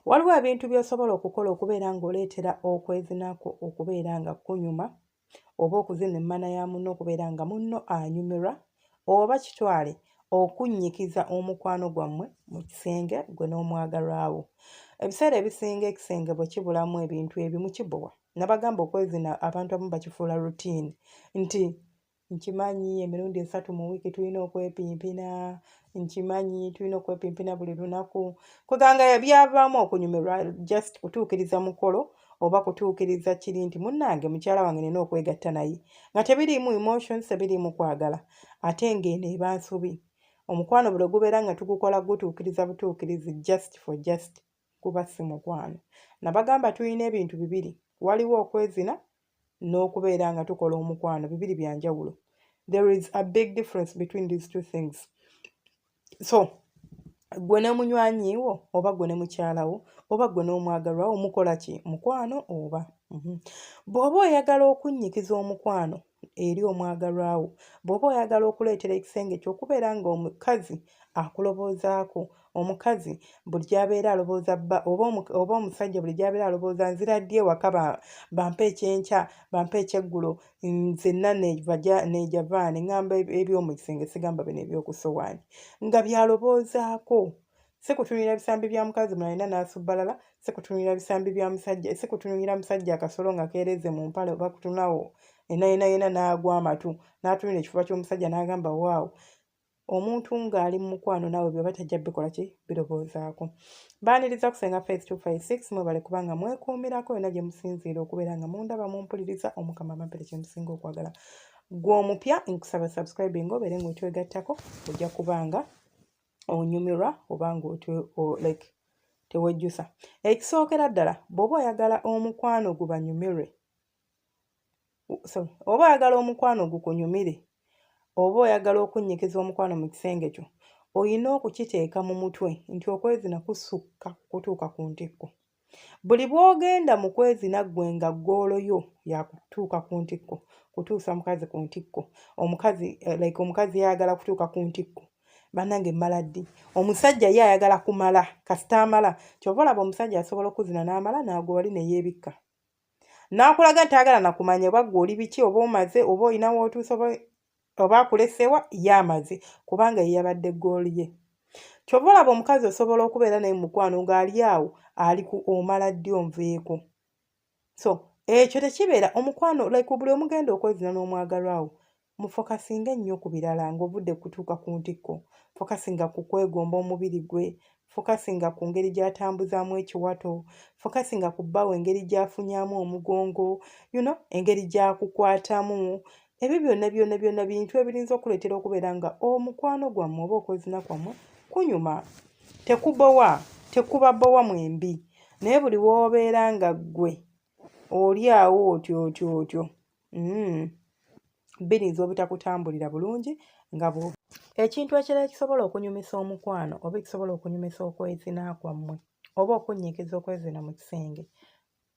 waliwo ebintu by'osobola okukola okubeera ng'oleetera okwezinaku okubeera nga kunyuma oba okuzina emmana ya munno okubeera nga munno anyumirwa oba kitwale okunnyikiza omukwano gwammwe mu kisenge gwe n'omwagalwawo ebiseera ebisinga ekisenge bwe kibulamu ebintu ebimu kibowa nabagamba okwezina abantu abamu bakifuula rutini nti nkimanyi emirundi esatu mu wiiki tulina okwepimpina nkimanyi tulina okwepimpina buli lunaku kweganga byavaamu okunyumirwa just kutuukiriza mukolo oba kutuukiriza kiri nti munnange mukyala wange nina okwegatta naye nga tebiriimu emotions tebiriimu kwagala ate ng'eno eba nsobi omukwano buli gubeera nga tugukola gutuukiriza butuukirizi just for just kuba si mukwano nabagamba tulina ebintu bibiri waliwo okwezina n'okubeera nga tukola omukwano bibiri bya njawulo there is a big difference between these two things so gwe ne munywanyi wo oba gwe ne mukyala wo oba gwe n'omwagalwa wo mukola ki mukwano oba mhm. bw'oba oyagala okunnyikiza omukwano eri omwagalwa wo bw'oba oyagala okuleetera ekisenge kyo okubeera ng'omukazi akuloboozaako omukazi buli gyabeera alobooza bba oba omusajja buli gyabeera alobooza nzira ddi ewaka bampa ekyenkya bampa ekyeggulo nzenna nebaja nejavaane ngamba ebyomu kisenge sigamba bino ebyokusowaani nga byaloboozaako sikutunulira bisambi bya mukazi mulalina nasubbalala sikutunulira bisambi bya musajja sikutunulira musajja akasolo nga keereze mu mpale oba kutunawo enayena yena n'agwa amatu n'atunulira ekifuba ky'omusajja n'agamba waawo omuntu ng'ali mu mukwano naawe byoba tajja bikola ki birowoozaako baaniriza kusenga face 256 mwebale kubanga mwekuumirako yonna gye musinziira okubeera nga mundaba mumpuliriza omukama amampere kye musinga okwagala gwe omupya nkusaba subscribing obeere ng'otwegattako ojja kubanga onyumirwa oba nga like tewejjusa ekisookera ddala bw'oba oyagala omukwano gubanyumirwe sorry oba oyagala omukwano gukunyumire oba oyagala okunnyikiza omukwano mu kisenge kyo olina okukiteeka mu mutwe nti okwezina kusukka kutuuka ku ntikko buli bw'ogenda mu kwezina ggwe nga ggoolo yo yakutuuka ku ntikko kutuusa mukazi ku ntikko omukazi eh, like omukazi yayagala kutuuka ku ntikko banange mmala ddi omusajja ye ayagala kumala kasita amala kyova olaba omusajja asobola okuzina n'amala naago wali neyeebikka n'akulaga nti ayagala na kumanya oba ggwe oli biki oba omaze oba olina w'otuusa oba oba akulesewa ye amaze kubanga ye yabadde ggooli ye kyova olaba omukazi osobola okubeera naye mukwano ng'ali awo ali ku omala ddi onveeko so ekyo tekibeera omukwano like buli omugenda okwezina n'omwagalwawo mufokasinge nnyo ku birala ng'ovudde kutuuka ku ntikko fokasinga ku kwegomba omubiri gwe fokasinga ku ngeri gy'atambuzaamu ekiwato fokasinga ku bbawo engeri gy'afunyaamu omugongo you know engeri gy'akukwatamu ebyo byonna byonna byonna bintu ebirinza okuleetera okubeera nga omukwano gwammwe oba okwezina kwammwe kunyuma tekubowa tekuba bowa mwembi naye buli w'obeera nga ggwe oli awo otyo otyo otyo mm. biyinza obutakutambulira bulungi nga bwo ekintu ekirala ekisobola okunyumisa omukwano oba ekisobola okunyumisa okwezina kwammwe oba okunnyikiza okwezina mu kisenge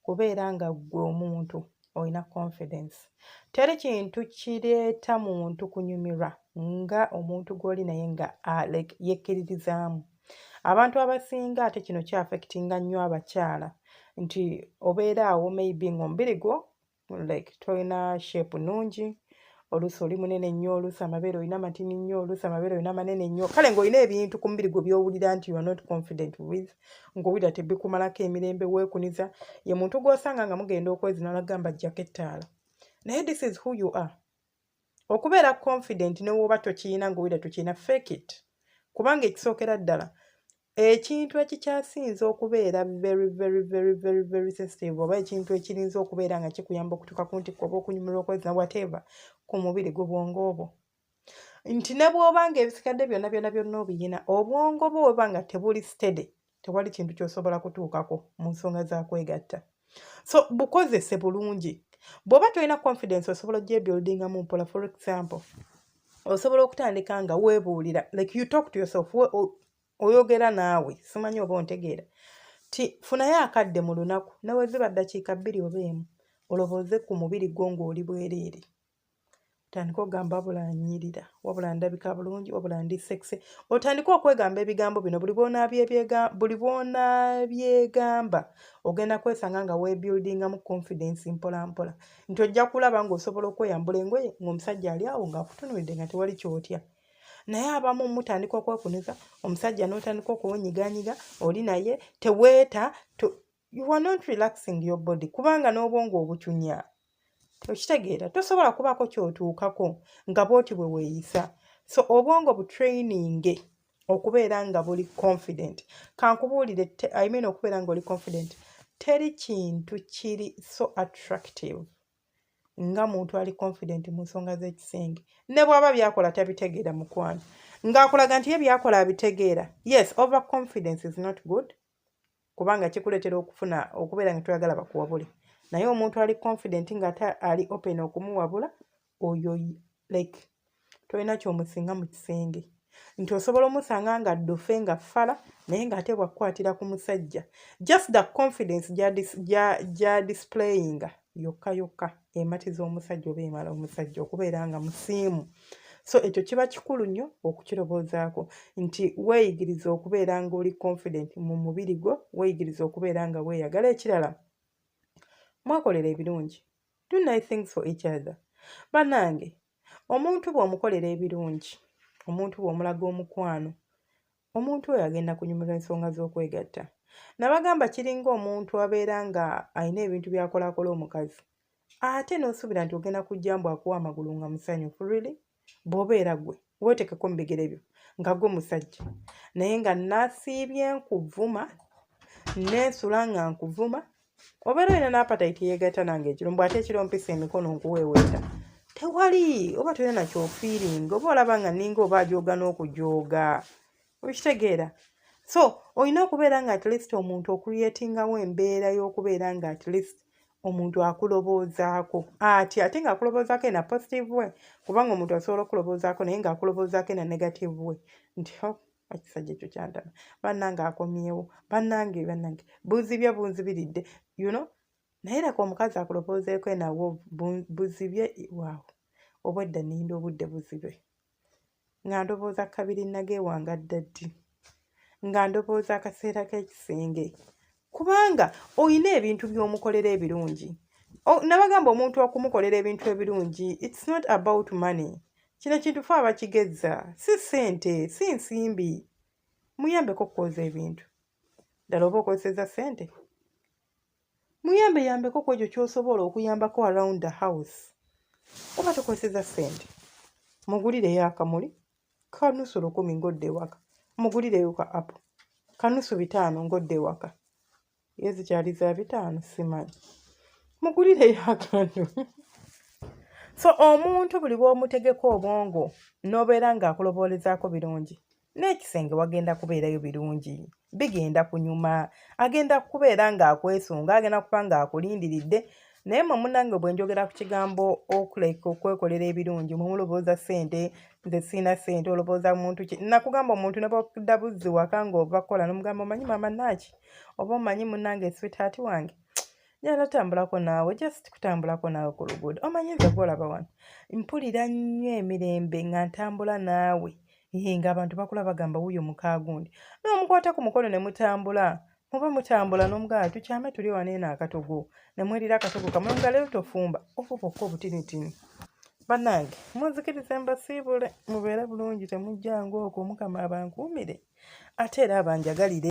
kubeera nga ggwe omuntu olina confidence teri kintu kireeta muntu kunyumirwa nga omuntu gw'oli naye nga ah, like yekkiririzaamu abantu abasinga ate kino kyaffectinga nnyo abakyala nti obeera awo maybe ngaomubiri gwo like tolina shape nungi oluusi oli munene nnyo oluusi amabeere olina matini nnyo oluusi amabeere olina manene nnyo kale ng'olina ebintu ku mubiri gwe byowulira nti youare not confident with ng'owulira tebikumalako emirembe weekuniza ye muntu gw'osanga nga mugenda okwezina nagamba jjako ettaala naye this is who you are okubeera confident newooba tokiyina nga owulira tokiyina fake it kubanga ekisookera ddala ekintu ekikyasinze okubeera very very very very very sensitive oba ekintu ekirinza okubeera nga kikuyamba okutuuka ku ntikko oba okunyumira okwezina whatever ku mubiri gwe bwongo obwo nti ne bw'oba nga ebisikadde byonna byonna byonna obiyina obwongo bwo weba nga tebuli steady tewali kintu kyosobola kutuukako mu nsonga za kwegatta so bukozese bulungi bw'oba tolina confidence osobola ojebuildinga mu mpola for example osobola okutandika nga weebuulira like you talk to yourself oyogera naawe simanyi oba ontegeera ti funayo akadde mu lunaku nawe ziba ddakiika bbiri oba emu olowooze ku mubiri gwo ng'oli bwereere otandika ogamba wabula anyirira wabula ndabika bulungi wabula ndi sexe otandika okwegamba ebigambo bino buli buli bwonabyegamba ogenda kwesanga nga webuildingamu confidence mpola mpola nti ojja kulaba ngaosobola okweyambula engoye ngaomusajja ali awo ngaakutunulidde nga tewali kyotya naye abamu mutandika okwekuniza omusajja notandika okuwunyiganyiga oli naye teweeta you are not relaxing your body kubanga n'obwongo obucunya okitegeera tosobola kubaako kyotuukako nga bwoti bwe weeyisa so obwongo butraininge okubeera nga buli confident kankubuulire i mean okubeera nga oli confident teri kintu kiri so attractive nga muntu ali confident mu nsonga z'ekisenge ne bwaba byakola tabitegeera mukwano ng'akulaga nti ye byakola abitegeera yes over confidence is not good kubanga kikuleetera okufuna okubeera nga toyagala bakuwabule naye omuntu ali confident nga ate ali open okumuwabula oyo like tolina kyomusinga mu kisenge nti osobola omusanga nga ddofe nga fala naye ng'ate bwakukwatira ku musajja just the confidence gya displayinga yokka yokka ematiza omusajja oba emala omusajja okubeera nga musiimu so ekyo kiba kikulu nnyo okukirowoozaako nti weeyigiriza okubeera ng'oli confident mu mubiri gwo weeyigiriza okubeera nga weeyagala ekirala mwakolera ebirungi do nice things for each other banange omuntu bw'omukolera ebirungi omuntu bw'omulaga omukwano omuntu oyo agenda kunyumirwa ensonga z'okwegatta nabagamba kiringa omuntu abeera nga alina ebintu byakolakola omukazi ate n'osuubira nti ogenda kujja mbu akuwa amagulu nga musanyufu really bw'obeera gwe weetekeko mu bigere byo nga gwe musajja naye nga nasiibye nkuvuma nensula nga nkuvuma obeera olina n'apatayiti yeegatta nange ekiro mbw ate ekiro mpisa emikono nkuweeweeta tewali oba tolina nakyofiiringa oba olaba nga ninga oba ajooga n'okujooga okitegeera so olina okubeera nga at least omuntu okuriyetingawo embeera y'okubeera nga at least omuntu akuloboozaako ati ate nga akuloboozaako ena positive way kubanga omuntu asobola okuloboozaako naye nga akuloboozaako ena negative way nti ekisajja ekyo kyantama bannange akomyewo bannange bannange buzibye bunzibiridde you know naye leka omukazi akulopoozeeko enawo buzibye waawo obwedda ninda obudde buzibe nga ndowooza kabiri nage wanga dda ddi nga ndowooza akaseera k'ekisenge kubanga olina ebintu by'omukolera ebirungi nabagamba omuntu okumukolera ebintu ebirungi its not about money kino kintu fe abakigezza si sente si nsimbi muyambeko okukwoza ebintu ddala oba okozeseza sente muyambe yambeko ku ekyo kyosobola okuyambako around the house oba tokozeseza sente mugulireyo akamuli kanusu lukumi ng'odda ewaka mugulireyo ka apu kanusu bitaano ng'odda ewaka ye zikyali za bitaano simanyi mugulireyo akantu so omuntu buli bw'omutegeka obwongo n'obeera ng'akuloboolezaako birungi n'ekisenge wagenda kubeerayo birungi bigenda kunyuma agenda kubeera ng'akwesunga agenda kuba ng'akulindiridde naye mwe munange bwe njogera ku kigambo okuleka okwekolera ebirungi mwe mulowooza ssente nze siina ssente olowooza muntu ki nakugamba omuntu ne bwakudda buzzi waka ng'ova kukola nomugamba omanyi maama naaki oba omanyi munange switaati wange njala tambulako naawe just kutambulako naawe ku luguudo omanyi nze gwolaba wano mpulira nnyo emirembe nga ntambula naawe Ehe, ng'abantu bakula bagamba wuyo mukaagundi n'omukwata ku mukono ne mutambula muba mutambula n'omugala tukyame tuli wano eno akatogo ne mwerira akatogo kamwe nga leero tofumba ofu bokka obutinitini bannange munzikirize mbasiibule mubeere bulungi temujjanga okwo mukama abankuumire ate era abanjagalire